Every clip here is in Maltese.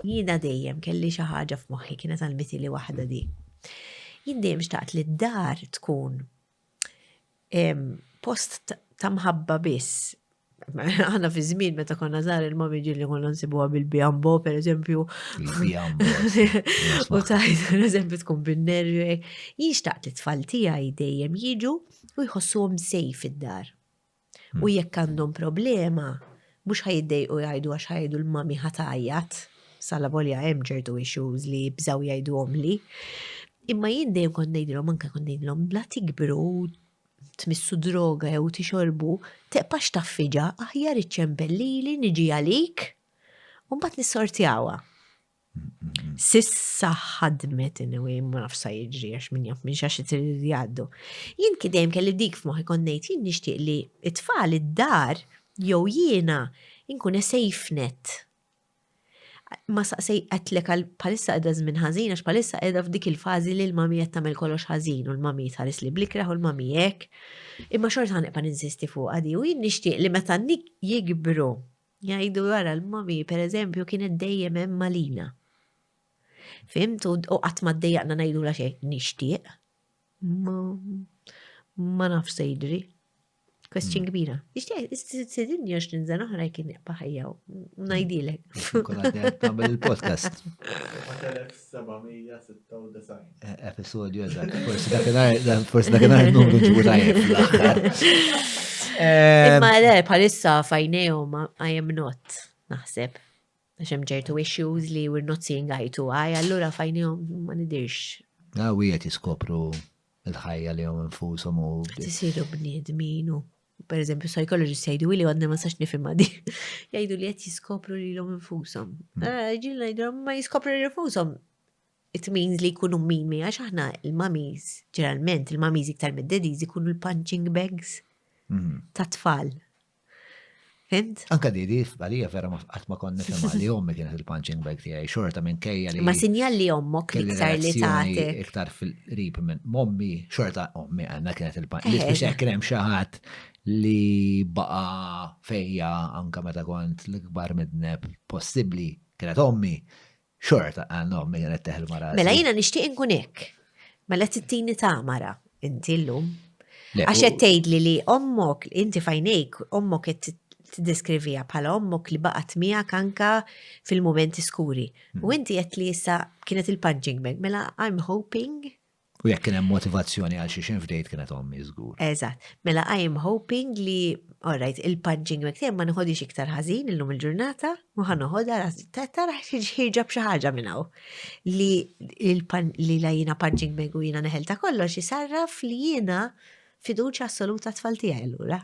Jiena dejjem kelli xi ħaġa f'moħħi kienet għalmiti li waħda di. Jien dejjem xtaqt li d-dar tkun post ta' mħabba biss. Għana fi żmien meta konna żgħar il-mami ġilli konna nsibuha bil-bijambo, per eżempju. U tajt, per eżempju, tkun bin-nervi. Jien xtaqt li tfal tiegħi dejjem jiġu u jħossuhom sejf id-dar. U jekk għandhom problema, mhux ħa jiddejqu jgħidu għax ħajdu l-mami ħa tgħajjat, sala volja hemm ċertu issues li jibżgħu jgħiduhomli. Imma jien dejjem kont ngħidilhom anke kont ngħidilhom bla tikbru tmissu droga jew tixorbu, teqpax taffiġa aħjar iċċempel lili niġi għalik u mbagħad nissortjawha. Sissa ħadmet anyway, ma nafx sa jiġri għax minn jaf minn xax li jgħaddu. Jien kidejm kelli dik f'moħħi konnejt jien nixtieq li it-tfal id-dar jew jiena nkun safe net. Ma saqsej qatlek għal palissa qiegħda żmien ħażin għax palissa qiegħda f'dik il-fażi li l-mami qed tagħmel kollox ħażin u l-mami tħares li blikreħ u l-mami hekk. Imma xorta ħanibqa' ninsisti fuq għadi u jien nixtieq li meta jikbru Jgħidu wara l-mami, per eżempju, kienet dejjem hemm malina. Fimt u qatt ma ddejjaqna ngħidu la xejn nixtieq. Ma naf se jidri. Question mm. kbira. Nixtieq sidin jox ninżan oħra jkien iqba ħajja u ngħidilek. Kulħadd il-podcast. 796. Eh, episodju eżatt, forsi dakinhar, forsi dakinhar numru ġibu tajjeb fl-aħħar. Imma eh, le, bħalissa fajnejhom I am not, naħseb. Għax hemm ġertu issues li we're not seeing eye to eye, allura fajnejhom ma nidirx. Għaw ah, jiet jiskopru il-ħajja li jom infusom u. Tisiru bniedmin u. per eżempju, psychologist jgħidu li għadna ma sax nifimma di. Jgħidu li qed jiskopru li l-om infusom. Hmm. Eh, Ġil ngħidu ma jiskopru li infusom. It means li jkunu min mi għax aħna il-mamis, ġeneralment il-mamis iktar mid-dediz ikunu l-punching bags hmm. ta' tfal. Fimt? Anka di di għalija vera ma qatt ma konna nifhimha li ommi kienet il-punching bag tiegħi xorta minn kejja li. Ma sinjal li ommok iktar li tagħti. Iktar fil-qrib minn mommi xorta ommi għandna kienet il-punching. Li biex hekk hemm xi ħadd li baqa fejja anka meta kont l-ikbar midneb possibbli kienet ommi. Xorta, ah, no, minn għanet teħel mara. Mela jina nishtiq nkun hekk. Mela tittini ta' mara, inti l-lum. Għax qed tgħidli li ommok, inti fajnejk, ommok qed tiddeskrivija bħala ommok li baqgħet miegħek anka fil-momenti skuri. U hmm. inti qed li issa kienet il-punching bag, mela I'm hoping U jekk kien hemm motivazzjoni għal xi xejn f'dejt kienet ommi żgur. Eżatt. Mela I am hoping li all right, il-punching bag tiegħi ma nħodix iktar ħażin illum il-ġurnata, u ħa noħodha tara ħirġa b'xi ħaġa minn hawn. Li li la jiena punching bag u jiena neħel ta' kollox isarraf li jiena fiduċja assoluta tfal tiegħi allura.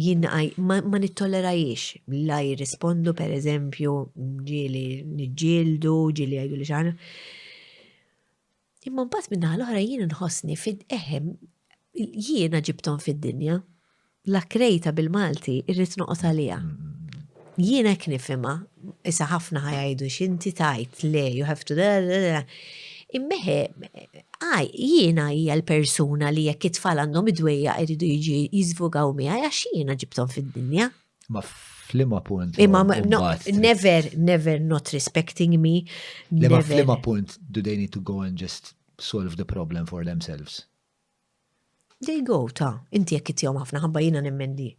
Jien ma nittollerahiex la jirrispondu pereżempju ġieli niġġieldu, ġieli jgħiduli xi ħaġa. Imma mbagħad min-naħa l-oħra jien inħossni fid eħem jiena ġibthom fid-dinja. La krejta bil-Malti irrid noqgħod għaliha. Jien hekk nifhimha, issa ħafna ħa jgħidu x'inti tajt le you have to Immeħe, jiena hija l-persuna li jekk it-tfal għandhom id-dwejja jridu jiġi jiżvugaw miegħi għax jiena ġibthom fid-dinja. Ma flima punt. Imma never, never not respecting me. Imma flima punt do they need to go and just solve the problem for themselves? There you go, ta, inti jekk ittihom ħafna ħabba jiena nemmen li.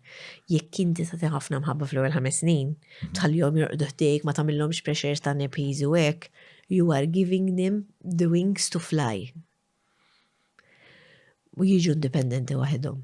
Jekk inti tagħti ħafna mħabba fl-ewwel ħames snin, mhm. tħallihom jorqdu ħdejk, ma tagħmilhomx pressures ta' nepiż u hekk, you are giving them the wings to fly. U jiġu indipendenti waħedhom.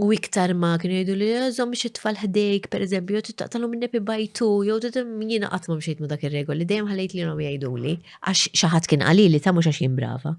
U iktar ma kienu jgħidu li jżom biex it-tfal ħdejk, per eżempju, jew taqtalu minn nepi bajtu, jew jiena qatt ma mxejt ma dak ir-regoli, dejjem ħallejt li jom jgħidu li, għax xi ħadd kien qali li ta' mhux għax jien brava.